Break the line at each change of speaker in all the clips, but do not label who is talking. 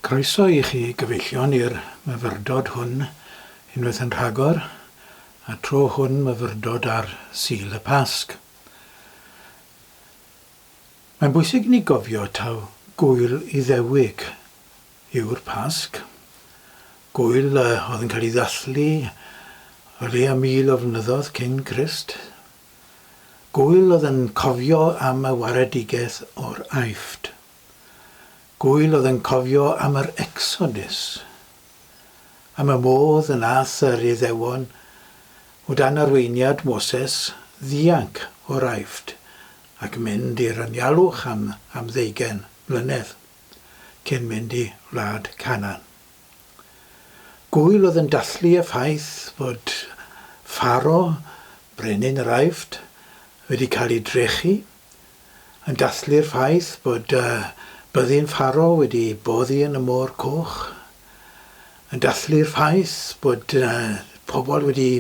Croeso i chi gyfeillion i'r myfyrdod hwn unwaith yn rhagor, a tro hwn myfyrdod ar Sul y Pasg. Mae'n bwysig i ni gofio taw Gŵyl Iddewig yw'r Pasg, gŵyl a oedd yn cael ei ddathlu o leia' mil o flynyddoedd cyn Crist, gŵyl oedd yn cofio am y waredigaeth o'r Aifft. Gŵyl oedd yn cofio am yr Exodus, am y modd y nath yr Iddewon, o dan arweiniad Moses, ddianc o'r Aifft ac mynd i'r anialwch am am ddeugain mlynedd, cyn mynd i wlad Canan. Gŵyl oedd yn dathlu y ffaith fod Pharo, brenin yr Aifft, wedi cael ei drechu, yn dathlu'r ffaith bod y byddin faro wedi boddi yn y Môr Coch, yn dathlu'r ffaith bod pobl wedi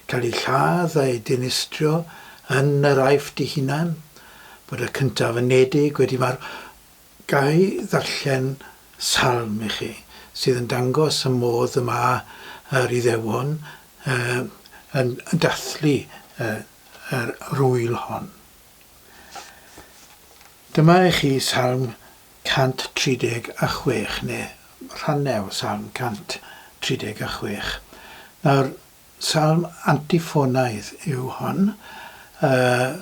cael eu lladd a'u dinistrio yn yr Aifft ei hunan, bod y cyntaf unedig wedi marw. Ga i ddarllen salm i chi sydd yn dangos y modd y mae yr Iddewon yn dathlu yr ŵyl hon? Dyma i chi Salm 136, neu rhannau o Salm 136. Nawr, salm antifonaidd yw hon, yy,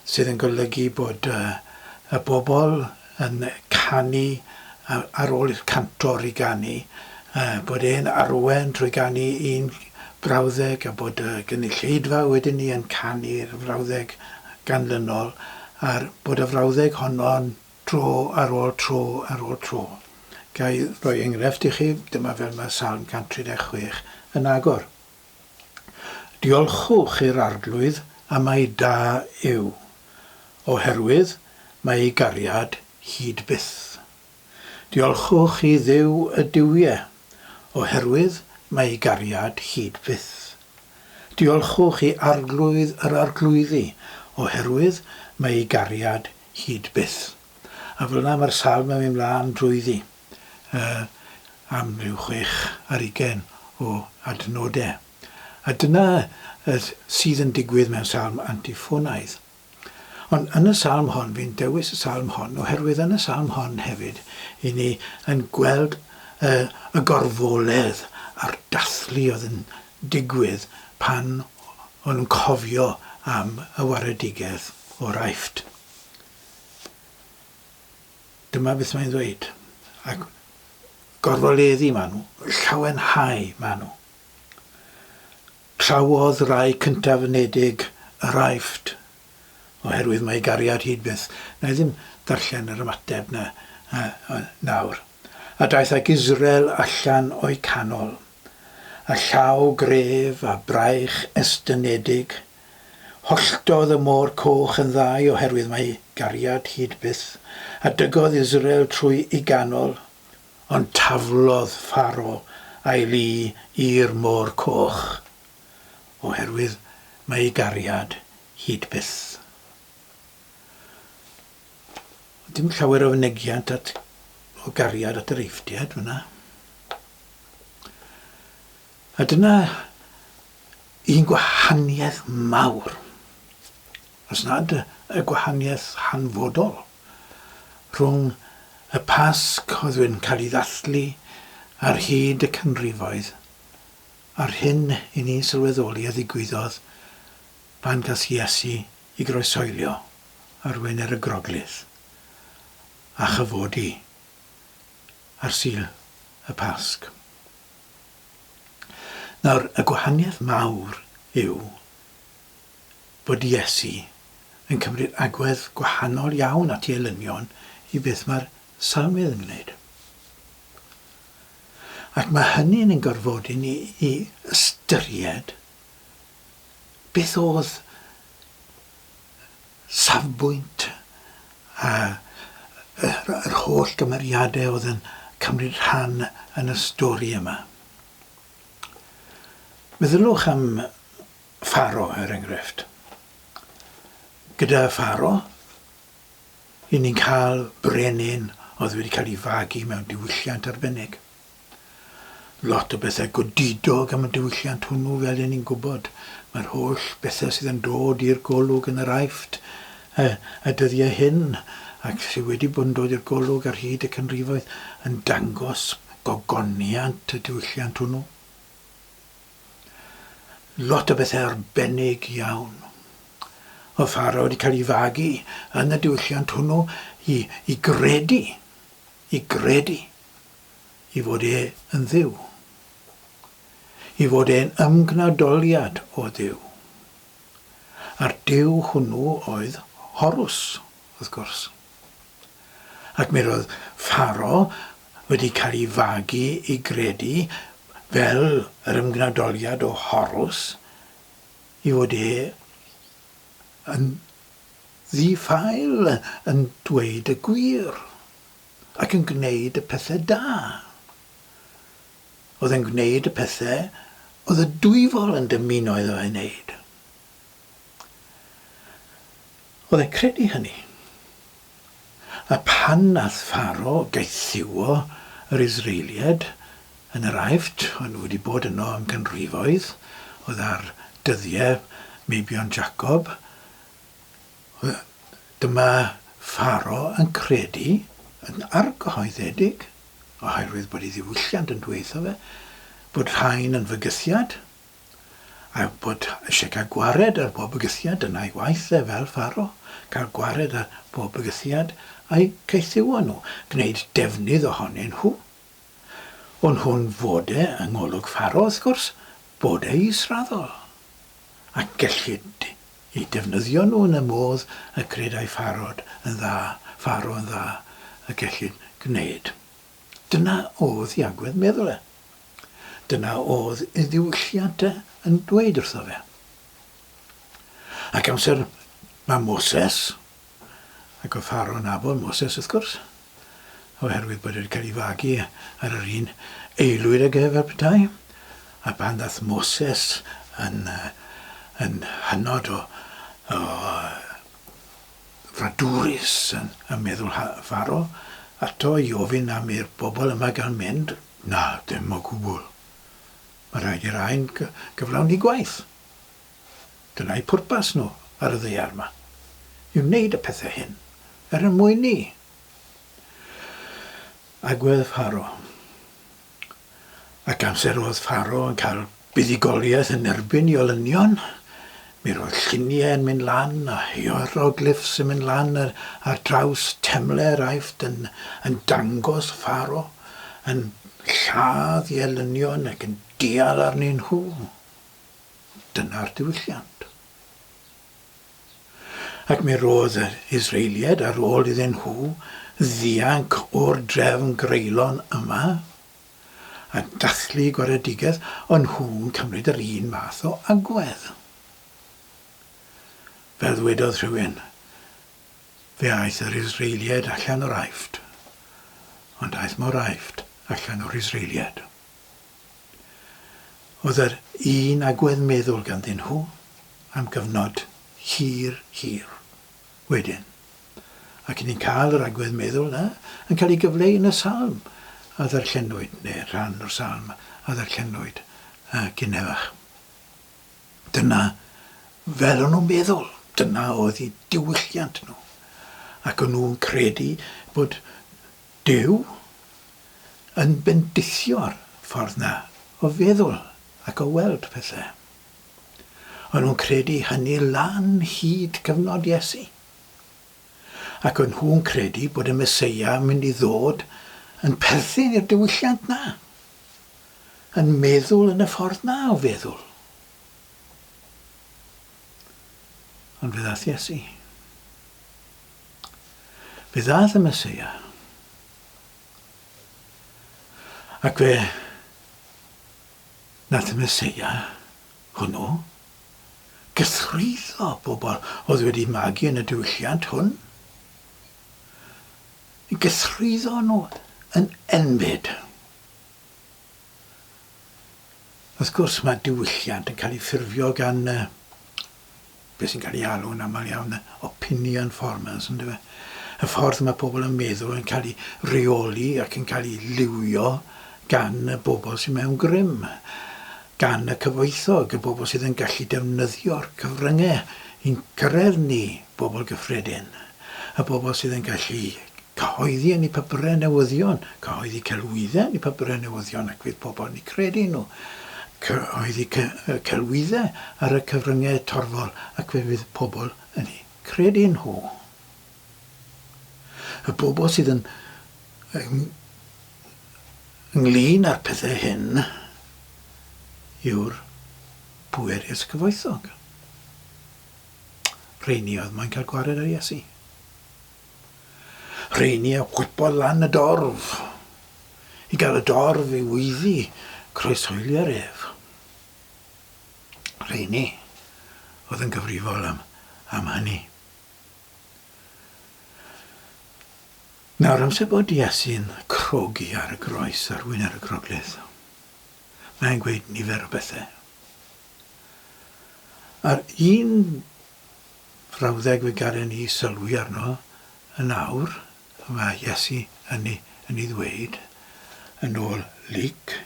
sydd yn golygu bod yy y bobl yn canu a ar ôl i'r cantor i ganu a bod e'n arwain trwy ganu un frawddeg a bod y gynulleidfa wedyn 'ny yn canu'r frawddeg ganlynol a'r bod y frawddeg honno'n tro ar ôl tro ar ôl tro. Ga i roi engrefft i chi? Dyma fel mae Salm 136 yn agor. Diolchwch i'r Arglwydd am ei da yw, oherwydd mae ei gariad hyd byth. Diolchwch i Dduw y duwie, oherwydd mae ei gariad hyd byth. Diolchwch i Arglwydd yr arglwyddi, oherwydd mae ei gariad hyd byth. A fel yna mae'r salm yn mynd mlaen drwyddi. am ryw chwech ar ugain o adnodau. A dyna sydd yn digwydd mewn salm antiffônaidd. Ond yn y salm hon, fi'n dewis y salm hon, oherwydd yn y salm hon hefyd, i ni yn gweld y gorfoledd a'r dathlu oedd yn digwydd pan o'n nhw'n cofio am y waredigaeth o'r Aifft. Dyma beth mae'n ddweud. Ac gorfoleddu maen nhw, llawenhau maen nhw. Trawodd rai cyntaf ynedig yr Aifft, oherwydd mae gariad hyd byth. Na i ddim darllen yr ymateb na nawr. A daeth ac Israel allan o'i canol, a llaw gref a braich estynedig, Holltodd y Môr Coch yn ddau oherwydd mai gariad hyd byth a dygodd Israel trwy i ganol, ond taflodd Pharo a'i lu i'r Môr Coch oherwydd mai gariad hyd byth. Oedd dim llawer o fynegiant at, o gariad at yr Eiftiaid fyna. A dyna un gwahaniaeth mawr, os nad y gwahaniaeth hanfodol, rhwng y Pasg oedd yn cael ei ddathlu ar hyd y canrifoedd a'r hyn i ni'n sylweddoli a ddigwyddodd pan gas Iesu i groesoelio ar Wener y Groglith a chyfodi ar Sul y Pasg. Nawr, y gwahaniaeth mawr yw bod Iesu yn cymryd agwedd gwahanol iawn at ei elynion i beth mae'r Salmydd yn gwneud. Ac mae hynny yn ein gorfodi ni i ystyried beth oedd safbwynt a yr holl gymeriadau oedd yn cymryd rhan yn y stori yma. Meddyliwch am Pharo, er enghraifft. Gyda Pharo, i ni'n cael brenin oedd wedi cael ei fagu mewn diwylliant arbennig. Lot o bethau godidog am y diwylliant hwnnw fel ry'n ni'n gwybod. Mae'r holl bethau sydd yn dod i'r golwg yn yr Aifft y y dyddiau hyn, ac sydd wedi bod yn dod i'r golwg ar hyd y canrifoedd, yn dangos gogoniant y diwylliant hwnnw. Lot o bethau arbennig iawn o Pharo wedi cael ei fagu yn y diwylliant hwnnw i i gredu, i gredu. i fod e yn Dduw, i fod e'n ymgnadoliad o Dduw. A'r Duw hwnnw oedd Horws, wrth gwrs. Ac mi roedd Pharo wedi cael ei fagu i gredu fel yr ymgnadoliad o Horws i fod e yn ddi-ffael yn dweud y gwir. Ac yn gwneud y pethau da. Oedd e'n gwneud y pethau oedd y Dwyfol yn dymuno iddo fe wneud. Oedd e'n credu hynny. A pan nath Pharo gaethiwo yr Israeliaid yn yr Aifft, o'n nhw wedi bod yno am ganrifoedd, oedd ar dyddiau meibion Jacob, Dyma Pharo yn credu yn argyhoeddedig, oherwydd bod ei ddiwylliant yn dweud wrtho fe bod rhain yn fygythiad, a bod eisiau cael gwared ar bob bygythiad, dyna ei waith e fel Pharo, cael gwared ar bob bygythiad a'u caethiwo nhw, gwneud defnydd ohonyn nhw. Ond hwn fod e, yng ngolwg Pharo wrth gwrs, bod e israddol, ac gellid eu defnyddio nhw yn y modd y credai Pharod yn dda, Pharo yn dda, y gellid gwneud. Dyna oedd ei agwedd meddwl e. Dyna oedd ei ddiwylliant e yn dweud wrtho fe. Ac amser mae Moses, Ac oedd Pharaoh yn nabod Moses, wrth gwrs, oherwydd bod e wedi cael ei fagu ar yr un aelwyd ag ef fel petai. A pan ddaeth Moses yn, yn hynod o, o fradwrus yn, yn meddwl Pharaoh ato i ofyn am i'r bobl yma gael mynd, na, dim o gwbl. Mae rhaid i'r rhain gyflawni gwaith. Dyna'u pwrpas nhw ar y ddaear 'ma, yw wneud y pethau hyn er yn mwyn ni. Agwedd Pharo. Ac amser oedd Pharo yn cael buddugoliaeth yn erbyn i olynion, mi roedd lluniau yn mynd lan a hierogliffs yn mynd lan ar, ar draws temle yr Aifft yn, yn dangos Pharo yn lladd i elynion ac yn dial arnyn nhw. Dyna'r diwylliant. Ac mi roedd yr Israeliaid, ar ôl iddyn nhw ddianc o'r drefn greulon yma a dathlu gwaredigaeth, o'n nhw'n cymryd yr un math o agwedd. Fel ddwedodd rhywun, fe aeth yr Israeliaid allan o'r Aifft, ond aeth mor Aifft allan o'r Israeliaid. oedd yr un agwedd meddwl ganddyn nhw am gyfnod hir, hir wedyn. Ac ni'n cael yr agwedd meddwl yna yn cael ei gyfleu yn y salm a ddarllenwyd, neu rhan o'r salm a ddarllenwyd uh, gynnefach. Dyna fel o'n nhw'n meddwl, dyna oedd eu diwylliant nhw. Ac o'n nhw'n credu bod Duw yn bendithio'r ffordd 'na o feddwl ac o weld pethe. O'n nhw'n credu hynny lan hyd cyfnod Iesu. Ac o'n nhw'n credu bod y Meseia yn mynd i ddod yn perthyn i'r diwylliant 'na, yn meddwl yn y ffordd 'na o feddwl. Ond fe ddaeth Iesu. Fe ddaeth y Meseia, ac fe nath y Meseia hwnnw gythrwyddo bobl oedd wedi magu yn y diwylliant hwn, i gythrwyddo nhw yn enbyd. Wrth gwrs, mae diwylliant yn cael ei ffurfio gan beth sy'n cael ei alw yn aml iawn yn opinion formers yn dyfe? Y ffordd mae pobl yn meddwl yn cael ei reoli ac yn cael ei liwio gan y bobl sy'n mewn grym, gan y cyfoethog, y bobl sydd yn gallu defnyddio'r cyfryngau i'n cyrraedd ni, bobl gyffredin. Y bobl sydd yn gallu cyhoeddi yn eu papurau newyddion, cyhoeddi celwyddau yn eu papurau newyddion ac fydd pobl yn eu credu nhw, cyhoeddi celwyddau ar y cyfryngau torfol ac fe fydd pobl yn eu credu nhw. Y bobl sydd yn ynglyn â'r pethau hyn yw'r pwerus cyfoethog. Rheini oedd moyn cael gwared ar Iesu. Rheini a gwybod lan y dorf. I gael y dorf i wyddi croeshoeli ar ef. Rheini oedd yn gyfrifol am, am hynny. Nawr amser bod Iesu'n crogi ar y groes arwyn ar y groglith. mae'n gweud nifer o bethau. A'r un frawddeg fe garen ni sylwi arno yn awr, mae Iesu yn ei, yn ei ddweud, yn ôl Luc,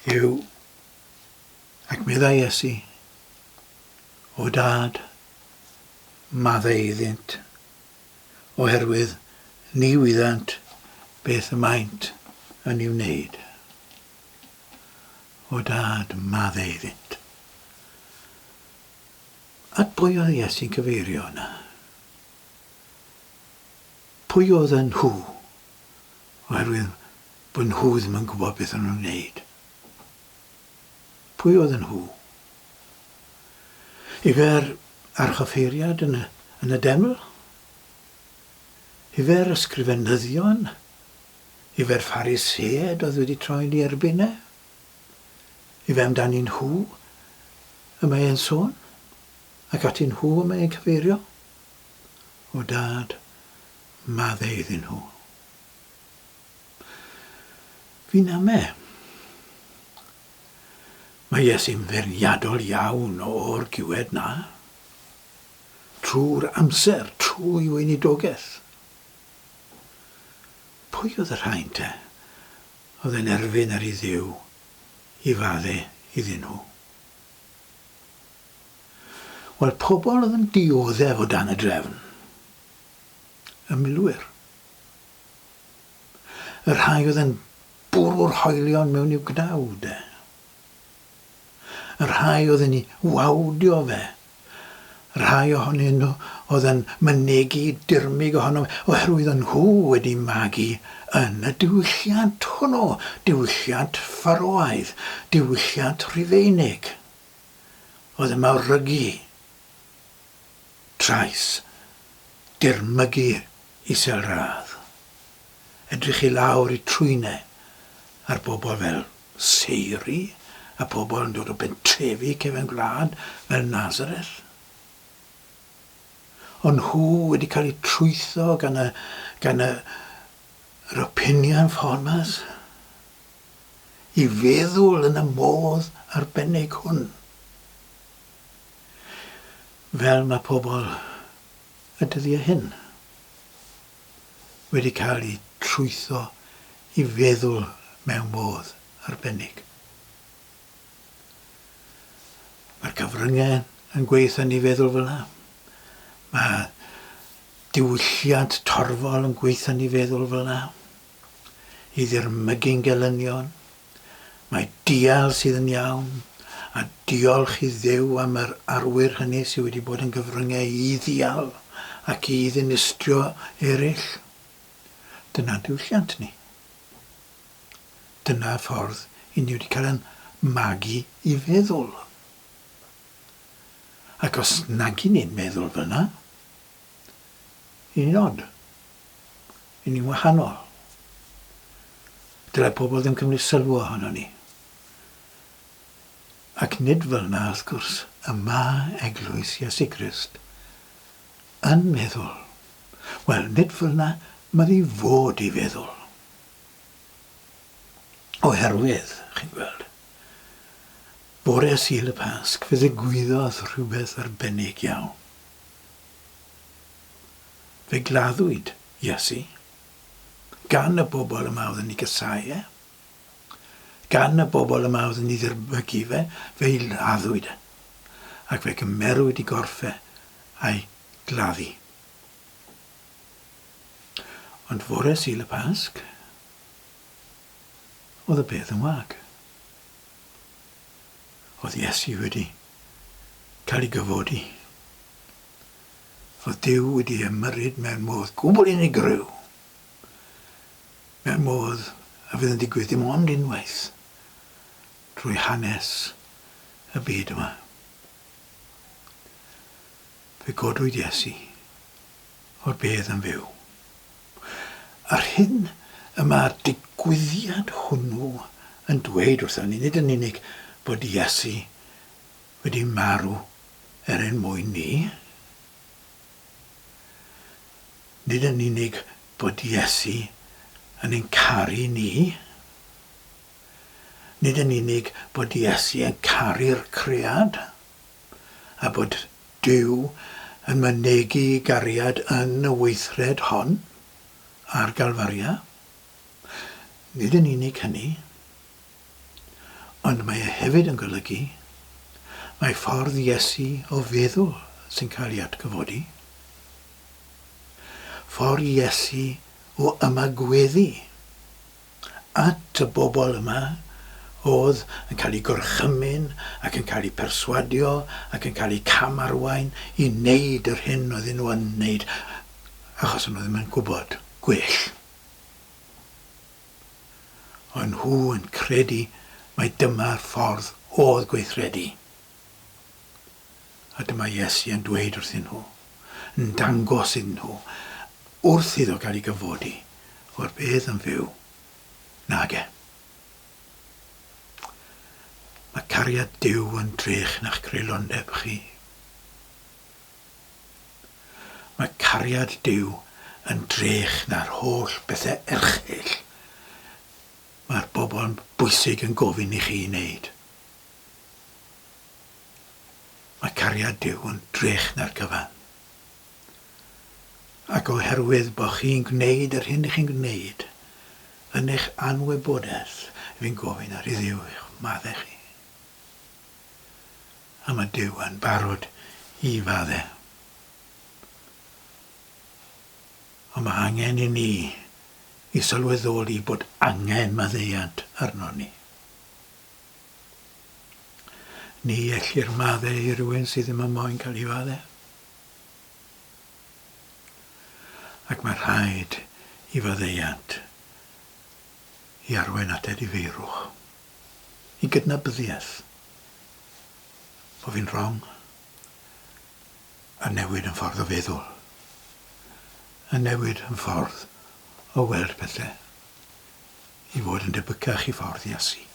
yw, ac meddai Iesu, o dad, maddau iddynt, oherwydd ni wyddant beth y maent yn ei wneud. O dad, madde iddynt. At bwy oedd Iesu'n cyfeirio yna? Pwy oedd yn nhw? Oherwydd bod nhw ddim yn gwybod beth o'n nhw'n wneud. Pwy oedden nhw? Yfe'r archoffeiriad yn y, yn y deml? Yfe'r ysgrifenyddion? Yfe'r Ffariseaid oedd wedi troi'n ei erbyn e? Yfe amdani nhw y mae e'n sôn? Ac ati nhw y mae e'n cyfeirio? O Dad, madde iddyn nhw. Fi'n ame. Mae Iesu'n feirniadol iawn o'r diwedd 'na. Trwy'r amser, trwy weinidogaeth. Pwy oedd y rhain te oedd yn erfyn ar i Dduw i fadde iddyn nhw? Wel, pobl oedd yn dioddef o dan y drefn. Y milwyr. Y rhai oedd yn bwrw'r hoelion mewn i'w gnawd e. Y rhai oedd yn ei wawdio fe. Y rhai ohonyn nhw oedd yn mynegi dirmyg ohono fe, oherwydd o'n nhw wedi magu yn y diwylliant hwnnw, diwylliant Ffaroaidd, diwylliant Rhufeinig, oedd yn mawrygu trais, dirmygu Isel radd. Edrych i lawr i trwyne ar bobl fel Seiri a pobl yn dod o bentrefi cefn gwlad fel Nazareth. Ond nhw wedi cael eu trwytho gan y, gan y Rapinian Farmers i feddwl yn y modd arbennig hwn. Fel mae pobl y dyddiau hyn wedi cael eu trwytho i feddwl mewn modd arbennig. Mae'r cyfryngau yn gweithio ni feddwl fel yna. Mae diwylliant torfol yn gweithio ni feddwl fel yna. I ddirmygu'n gelynion. Mae dial sydd yn iawn, a diolch i Dduw am yr arwyr hynny sydd wedi bod yn gyfryngau i ddial ac i ddinistrio eraill. Dyna diwylliant ni. Dyna'r ffordd i ni wedi cael yn magu i feddwl. Ac os nag i ni'n meddwl fel yna, Y nod? Y ni'n wahanol. Dyle pobl ddim cymryd sylw ohonon ni. Ac nid fel 'na, wrth gwrs, y mae Eglwys Iesu Grist yn meddwl. Wel, nid fel 'na m'odd i fod i feddwl. Oherwydd, chi'n gweld, bore Sul y Pasg fe ddigwyddodd rhywbeth arbennig iawn. Fe gladdwyd Iesu gan y bobl yma oedd yn ei gasau e, gan y bobl yma oedd yn ei ddirbygu fe, fe'i laddwyd e, ac fe gymerwyd i gorff e a'i gladdu. Ond fore Sul y Pasg, oedd y peth yn wag. oedd Iesu wedi cael ei gyfodi, fod Duw wedi ymyrryd mewn modd gwbl unigryw, mewn modd a fydd yn digwydd dim ond unwaith drwy hanes y byd yma. Fe godwyd Iesu o'r bedd yn fyw. Yr hyn y mae'r digwyddiad hwnnw yn dweud wrthon ni, nid yn unig bod Iesu wedi marw er ein mwyn ni, nid yn unig bod Iesu yn ein caru ni, nid yn unig bod Iesu yn caru'r cread, a bod Duw yn mynegi gariad yn y weithred hon ar Galfaria. Nid yn unig hynny, ond mae e hefyd yn golygu mae ffordd Iesu o feddwl sy'n cael ei atgyfodi, ffordd Iesu o ymagweddu at y bobl yma oedd yn cael eu gorchymyn ac yn cael eu perswadio ac yn cael eu cam-arwain i wneud yr hyn oedden nhw yn wneud achos o'n nhw ddim yn gwybod gwell. O'n nhw yn credu mai dyma'r ffordd oedd gweithredu. A dyma Iesu yn dweud wrthyn nhw, yn dangos iddyn nhw, wrth iddo gael ei gyfodi, fod bedd yn fyw. Nage. Mae cariad Duw yn drech na'ch creulondeb chi. Mae cariad Duw yn drech na'r holl bethau erchyll mae'r bobl bwysig yn gofyn i chi wneud. Mae cariad Duw yn drech na'r cyfan. Ac oherwydd bod chi'n gwneud yr hyn chi'n gwneud, yn eich anwybodaeth, fi'n gofyn ar i Dduw i'ch madde chi. A mae Duw yn barod i fadde. Ond mae angen i ni i sylweddoli bod angen maddeuant arno ni. Ni ellir madde i rywun sydd ddim yn moyn cael ei fadde. Ac mae rhaid i faddeuant i arwain at edifeirwch, i gydnabyddiaeth, bod fi'n wrong, a newid yn ffordd o feddwl, a newid yn ffordd o weld pethau. i fod yn debycach i ffordd Iesu.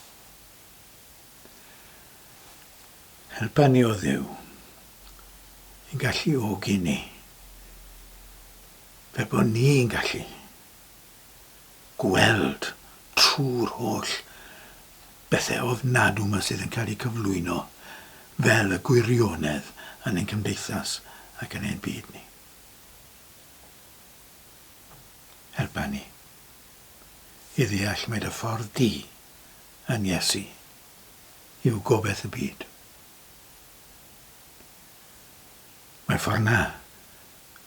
Helpa ni o ddew i gallu ogi ni fel bod ni'n gallu gweld trwy'r holl bethau ofnadw yma sydd yn cael eu cyflwyno fel y gwirionedd yn ein cymdeithas ac yn ein byd ni. Helpa ni. i ddeall mai dy ffordd di yn Iesu yw gobaith y byd. Mae ffordd na,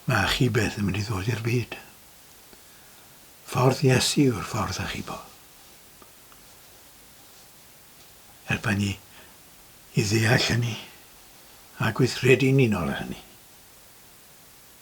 mae achubeth yn mynd i ddod i'r byd. Ffordd Iesu yw'r ffordd achubo. Helpa ni i ddeall hynny a gweithredu'n unol â hynny.